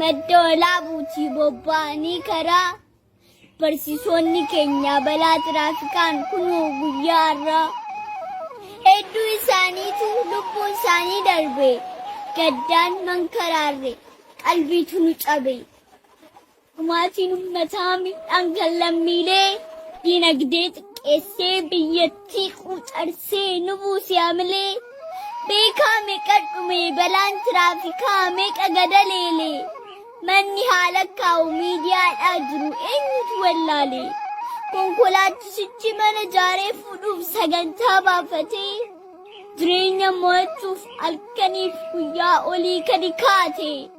Madda Walaabuutii bobba'anii karaa barsiisonni keenya balaa tiraafikaan kunuu guyyaa har'aa hedduu isaaniitu lubbuun isaanii darbe gaddaan mankaraarre qalbiitu nu cabe. Dhumaatiin ummataa miidhaan kan lammiilee dinagdee xiqqeessee biyyattii quucarsee nu buuse hamilee beekaa meeqa dhume balaan tiraafikaa meeqa gadaleele manni haala kaa'u miidiyaadhaa jiru eenyutu wallaale konkolaachisichi mana jaaree fuudhuuf sagantaa baafatee jireenya mo'achuuf halkaniif guyyaa olii kadi kaate.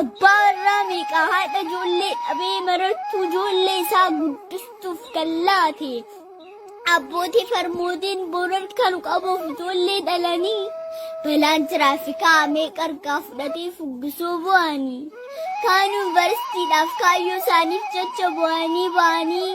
Abbaa warraa meeqaa haadha ijoollee dhabee marattuu ijoollee isaa guddistuuf kan laate. Abbootii farmootiin boorar kan qabuuf ijoollee dhalanii balaan tiraafikaa meeqa argaa fudhatee fuggisoo bu'anii. Kaan yuunivarsiitiidhaaf kaayyoo isaaniif jecha bu'anii ba'anii.